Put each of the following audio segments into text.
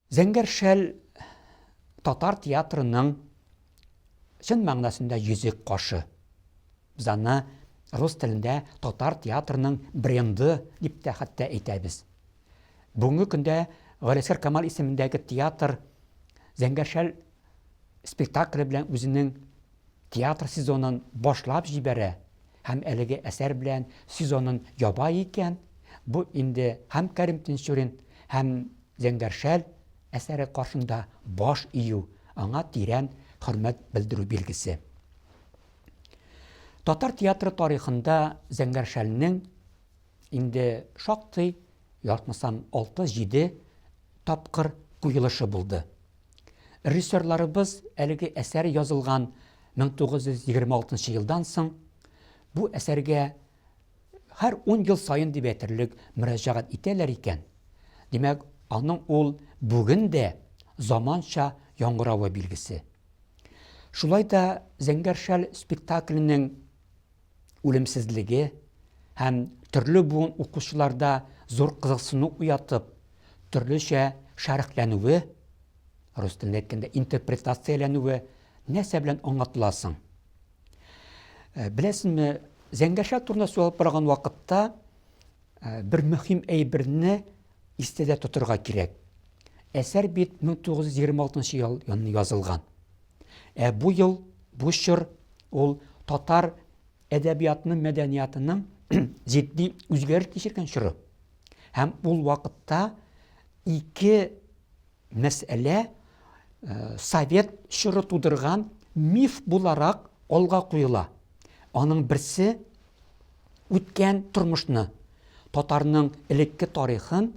Зәңгәр шәл татар театрының чын мәгънәсендә йөзек кашы. Без аны рус телендә татар театрының бренды дип тә хәтта әйтәбез. Бүгенге көндә Галисәр Камал исемендәге театр Зәңгәр шәл спектакле белән үзенең Театр сезонын башлап җибәрә һәм әлеге әсәр белән сезонын яба икән, бу инде һәм Кәрим Тинчурин, һәм Зәңгәр шәл әсәре каршында баш ию, аңа тирән хөрмәт белдерү билгесе. Татар театры тарихында Зәңгәр шәлнең инде шактый, ятмасам, алты-җиде тапкыр куелышы булды. Режиссерларыбыз әлеге әсәр язылган 1926 елдан соң бу әсәргә һәр ун ел саен дип әйтерлек мөрәҗәгать итәләр икән. Димәк, аның ул бүген дә заманча яңгыравы билгесе. Шулай да Зәңгәр шәл спектакленең үлемсезлеге һәм төрле буын укучыларда зур кызыксыну уятып, төрлечә шәрехләнүе, рус телендә әйткәндә, интерпретацияләнүе нәрсә белән аңлатыла соң? Беләсезме, Зәңгәршә турында сөйләп барган вакытта Бер мөһим әйберне истәдә тотырга кирәк. Әсәр бит 1926 ел язылган. Ә бу ел, бу чор ул татар әдәбиятының, мәдәниятының җитди үзгәреш кичергән чоры. Һәм ул вакытта ике мәсьәлә э, совет чоры тудырган миф буларак алга куела. Аның берсе үткән тормышны, татарның элекке тарихын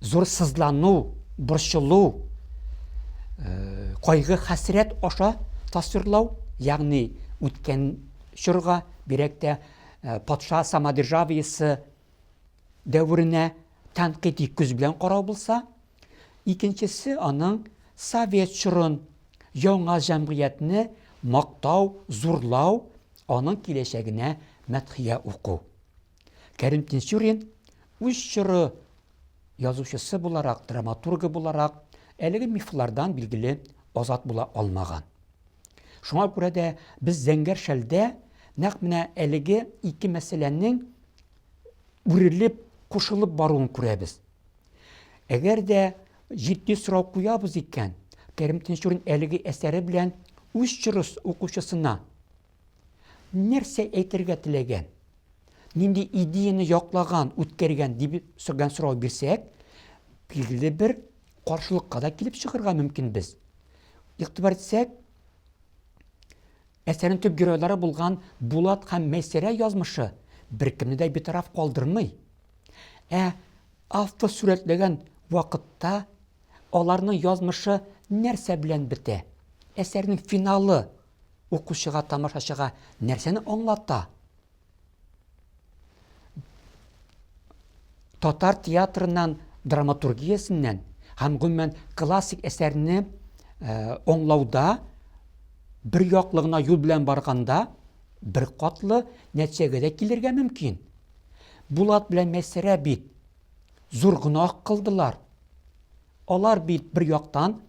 зур сызлану, борчылу, кайгы, хәсрәт аша тасвирлау, ягъни үткән чорга, бирәк тә патша самодержавиесе дәверенә тәнкыйть күз белән карау булса, Икенчесе аның совет чорын, яңа җәмгыятьне мактау, зурлау, аның киләчәгенә мәдхия уку. Кәрим Тинчурин үз чоры язучысы буларак, драматургы буларак әлеге мифлардан билгеле азат була алмаган. Шуңа күрә дә без зәңгәр шәлдә нәкъ менә әлеге ике мәсьәләнең үрелеп, кушылып баруын күрәбез. Әгәр дә җитди сорау куябыз икән, Кәрим Тинчурин әлеге әсәре белән үз чорыс укучысына нәрсә әйтергә теләгән? Нинди идеяны яклаган, үткәргән дип сорган сорау бирсәк, билгеле бер каршылыкка да килеп чыгарга мөмкин без. Игътибар итсәк, әсәрнең төп геройлары булган Булат һәм Мәйсәрә язмышы беркемне дә битараф калдырмый. Ә автор сурәтләгән вакытта аларның язмышы нәрсә белән бетә? Әсәрнең финалы укучыга, тамашачыга нәрсәне аңлата? Татар театрыннан, драматургиясеннән һәм гомумән классик әсәрне э, аңлауда бер яклы гына юл белән барганда бер катлы нәтиҗәгә дә килергә мөмкин. Булат белән Мәйсәрә бит зур гөнаһ кылдылар. Алар бит бер яктан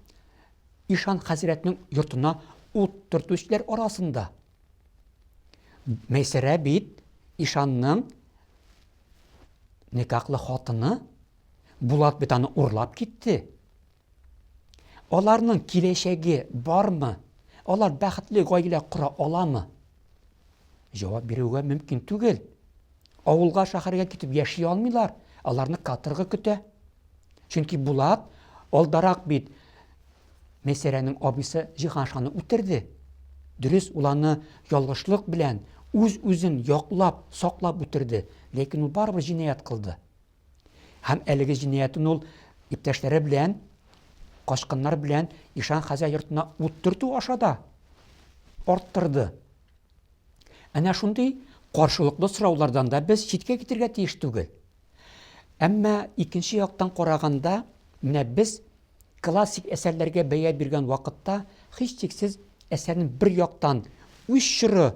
Ишан хәзрәтнең йортына ут төртүчеләр арасында. Мәйсәрә бит Ишанның никахлы хатыны, Булат бит аны урлап китте. Аларның киләчәге бармы? Алар бәхетле гаилә кора аламы? Җавап бирүгә мөмкин түгел. Авылга, шәһәргә китеп яши алмыйлар, аларны каторга көтә. Чөнки Булат алдарак бит Мәйсәрәнең абыйсы Җиһаншаны үтерде. Дөрес, ул аны ялгышлык белән үз-үзен яклап, саклап үтерде, ләкин ул барыбер җинаять кылды. Һәм әлеге җинаятен ул иптәшләре белән, качкыннар белән Ишан Хәзә йортына ут төртү аша да арттырды. Әнә шундый каршылыклы сораулардан да без читкә китергә тиеш түгел. Әмма икенче яктан караганда, менә без классик әсәрләргә бәя биргән вакытта һичшиксез әсәрнең бер яктан үз чоры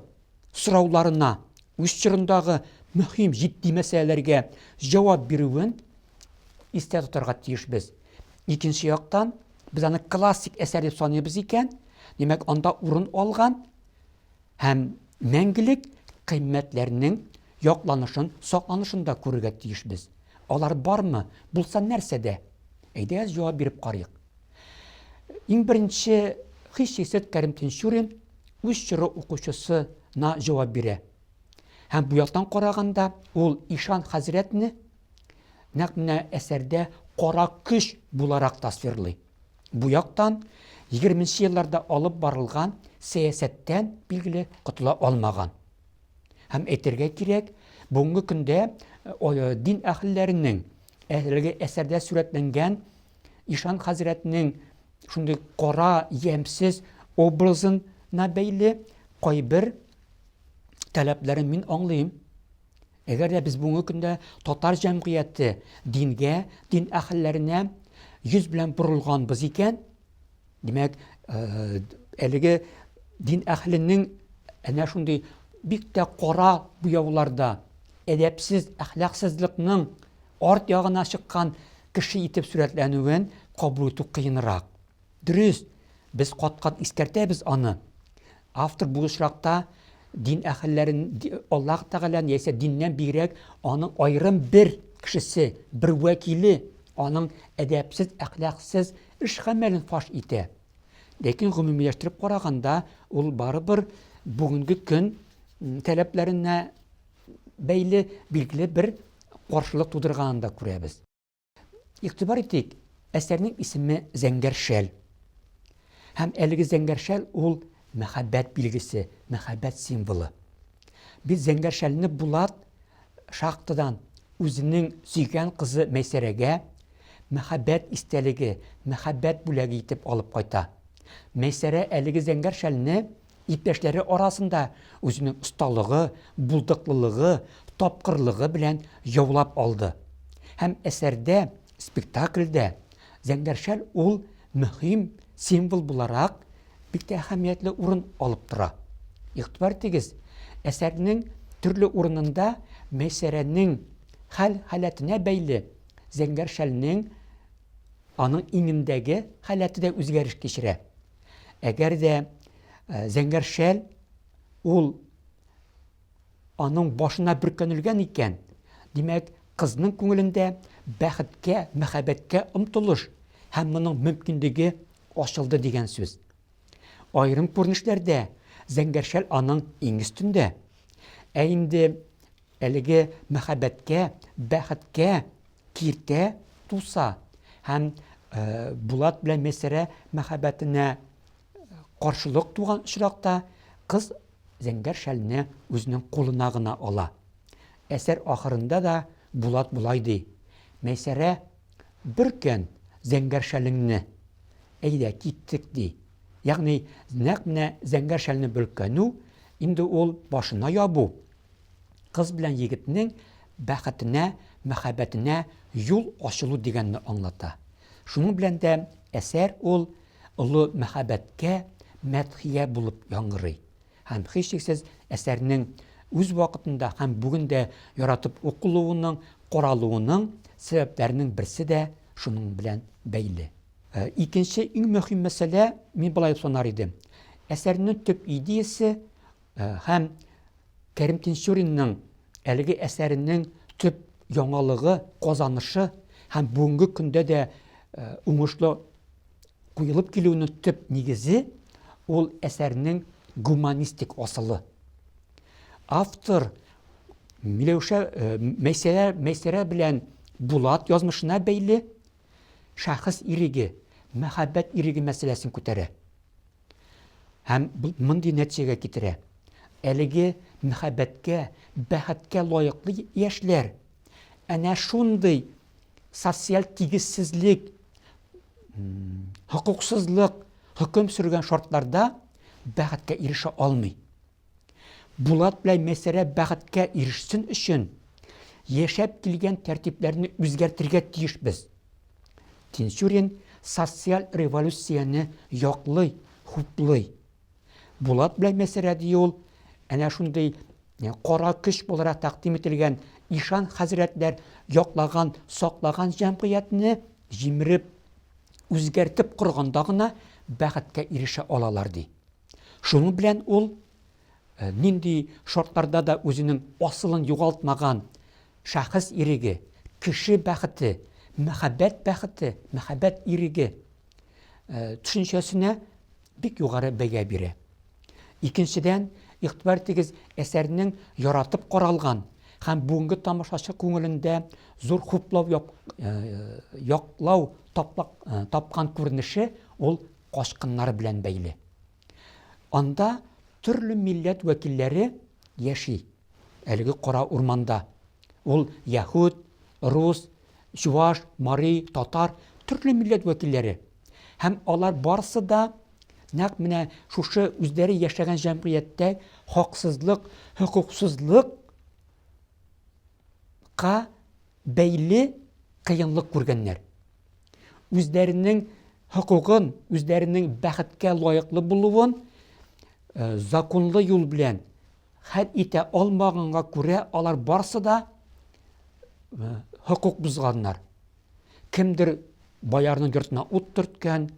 сорауларына, үз чорындагы мөһим җитди мәсьәләләргә җавап бирүен истә тотарга тиешбез. Икенче яктан, без аны классик әсәр дип саныйбыз икән, димәк, анда урын алган һәм мәңгелек кыйммәтләрнең якланышын, сакланышын да күрергә тиешбез. Алар бармы? Булса нәрсәдә? Әйдәгез җавап биреп карыйк. Иң беренче хис-хисет Кәрим Тинчурин үз чоры укучысына җавап бирә. Һәм бу яктан караганда ул Ишан хәзрәтне нәкъ менә әсәрдә кара көч буларак тасвирлый. Бу яктан 20 елларда алып барылган сәясәттән билгеле котыла алмаган. Һәм әйтергә кирәк, бүгенге көндә дин әһелләренең әлеге әсәрдә сурәтләнгән Ишан хәзрәтнең шундый кара, ямьсез образына бәйле кайбер таләпләрен мин аңлыйм. Әгәр дә без бүгенге көндә татар җәмгыяте дингә, дин әһелләренә йөз белән борылганбыз икән, Димәк, әлеге дин әхленең әнә шундый бик тә кара буяуларда, әдәпсез, әхлаксызлыкның арт ягына чыккан кеше итеп сурәтләнүен кабул итү кыенрак. Дөрес, без кат-кат искәртәбез аны. Автор бу очракта дин әһелләрен Аллаһ Тәгаләне яисә диннән бигрәк аның аерым бер кешесе, бер вәкиле аның әдәпсез, әхлаксыз эш-гамәлен фаш итә. Ләкин гомумиләштереп караганда, ул барыбер бүгенге көн таләпләренә бәйле билгеле бер каршылык тудырганын да күрәбез. Игътибар итик, әсәрнең исеме Зәңгәр шәл. Һәм әлеге зәңгәр шәл ул мәхәббәт билгесе, мәхәббәт символы. Без зәңгәр шәлне Булат шахтадан үзенең сөйгән кызы Мәйсәрәгә мәхәббәт истәлеге, мәхәббәт бүләге итеп алып кайта. Мәйсәрә әлеге зәңгәр шәлне Иптәшләре арасында үзенең осталыгы, булдыклылыгы, тапкырлыгы белән яулап алды. Һәм әсәрдә, спектакльдә Зәңгәр шәл ул мөһим символ буларак бик тә әһәмиятле урын алып тора. Игътибар итегез, әсәрнең төрле урынында Мәйсәрәнең хәл-халәтенә бәйле Зәңгәр шәлнең аның иңендәге халәте дә үзгәреш кичерә. Әгәр дә зәңгәр шәл ул аның башына бөркәнелгән икән, димәк, кызның күңелендә бәхеткә, мәхәббәткә омтылыш һәм моның мөмкинлеге ачылды дигән сүз. Аерым күренешләрдә зәңгәршәл аның иң өстендә. Ә инде Әлеге мәхәббәткә, бәхеткә киртә туса һәм Булат белән Мәйсәрә мәхәббәтенә каршылык туган очракта, кыз зәңгәр шәлне үзенең кулына гына ала. Әсәр ахырында да Булат болай ди, Мәйсәрә, бөркән зәңгәр шәлеңне, әйдә, киттек, ди. Ягъни, нәкъ менә зәңгәр шәлне бөркәнү, инде ул башына ябу, Кыз белән егетнең бәхетенә, мәхәббәтенә юл ачылу дигәнне аңлата. Шуның белән дә әсәр ул олы мәхәббәткә мәдхия булып яңгырый. Һәм һичшиксез әсәрнең үз вакытында һәм бүген дә яратып укылуының, каралуының сәбәпләренең берсе дә шуның белән бәйле. Ә, икенче иң мөһим мәсьәлә, мин болай дип санар идем, әсәрнең төп идеясе Һәм Кәрим Тинчуринның әлеге әсәренең төп яңалыгы, казанышы һәм бүгенге көндә дә уңышлы куелып килүенең төп нигезе, ул әсәрнең гуманистик асылы. Автор Миләүшә Мәйсәрә, Мәйсәрә белән Булат язмышына бәйле шәхес иреге, мәхәббәт иреге мәсьәләсен күтәрә. Һәм бу мондый нәтиҗәгә китерә. Әлеге мәхәббәткә, бәхеткә лаеклы яшьләр әнә шундый социаль тигезсезлек, хокуксызлык хөкем сөргән шартларда бәхеткә ирешә алмый. Булат белән Мәйсәрә бәхеткә ирешсен өчен, яшәп килгән тәртипләрне үзгәртергә тиешбез. Тинчурин социаль революцияне яклый, хуплый. Булат белән Мәйсәрә ди ул, әнә шундый кара көч буларак тәкъдим ителгән ишан хәзрәтләр яклаган, саклаган җәмгыятьне җимереп, үзгәртеп корганда гына бәхеткә ирешә алалар, ди. Шуның белән ул нинди шартларда да үзенең асылын югалтмаган шәхес иреге, кеше бәхете, мәхәббәт бәхете, мәхәббәт иреге төшенчәсенә бик югары бәя бирә. Икенчедән, игътибар тигез әсәрнең яратып каралган һәм бүгенге тамашачы күңелендә зур хуплау яклау тапкан күренеше ул качкыннар белән бәйле. Анда төрле милләт вәкилләре яши. Әлеге кара урманда ул яһүд, рус, чуваш, мари, татар, төрле милләт вәкилләре. Һәм алар барысы да нәкъ менә шушы үзләре яшәгән җәмгыятьтә хаксызлык, хокуксызлык ка бәйле кыенлык күргәннәр. Үзләренең хокукын, үзләренең бәхеткә лаеклы булуын э, законлы юл белән хәл итә алмаганга күрә алар барсы да э, хокук бозганнар. Кемдер боярның йортына ут төрткән,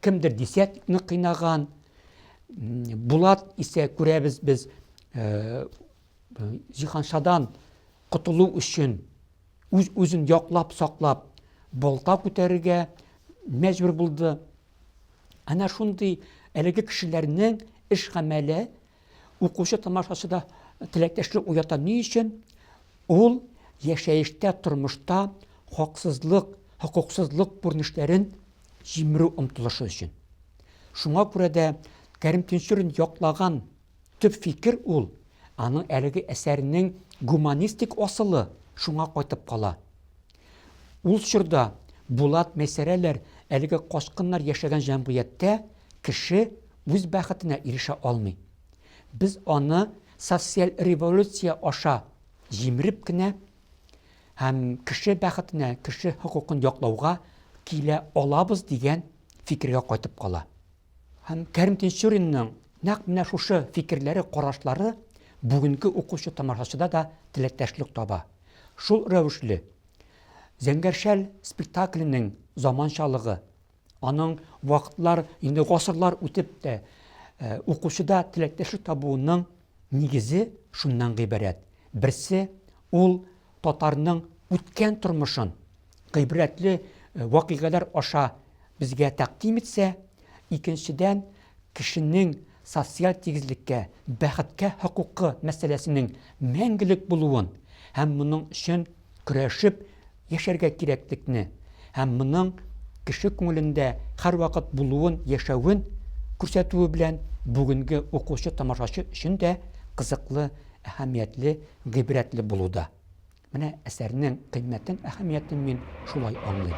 кемдер десятникны кыйнаган. Булат исә күрәбез без э, Җиһаншадан котылу өчен үз-үзен яклап, саклап, балта күтәрергә мәҗбүр булды. Әнә шундый әлеге кешеләрнең эш гамәле укучы тамашачыда теләктәшлек уята. Ни өчен? Ул яшәештә, тормышта хаксызлык, хокуксызлык күренешләрен җимерү омтылышы өчен. Шуңа күрә дә Кәрим Тинчурин яклаган Төп фикер ул, аның әлеге әсәренең гуманистик асылы шуңа кайтып кала. Ул чорда Булат Мәйсәрәләр әлеге качкыннар яшәгән җәмгыятьтә кеше үз бәхетенә ирешә алмый. Без аны социаль революция аша җимереп кенә һәм кеше бәхетенә, кеше хокукын яклауга килә алабыз дигән фикергә кайтып кала. Һәм Кәрим Тинчуринның нәкъ менә шушы фикерләре, карашлары бүгенге укучы-тамашачыда да теләктәшлек таба. Шул рәвешле, Зәңгәр шәл спектакленең заманчалыгы, аның вакытлар, инде гасырлар үтеп тә укучыда теләктәшлек табуының нигезе шуннан гыйбарәт. Берсе, ул татарның үткән тормышын гыйбрәтле вакыйгалар аша безгә тәкъдим итсә, икенчедән, кешенең социаль тигезлеккә, бәхеткә хокукы мәсьәләсенең мәңгелек булуын һәм моның өчен көрәшеп яшәргә кирәклекне һәм моның кеше күңелендә һәрвакыт булуын, яшәвен күрсәтүе белән бүгенге укучы-тамашачы өчен дә кызыклы, әһәмиятле гыйбрәтле булуда. Менә әсәрнең кыйммәтен, әһәмиятен мин шулай аңлыйм.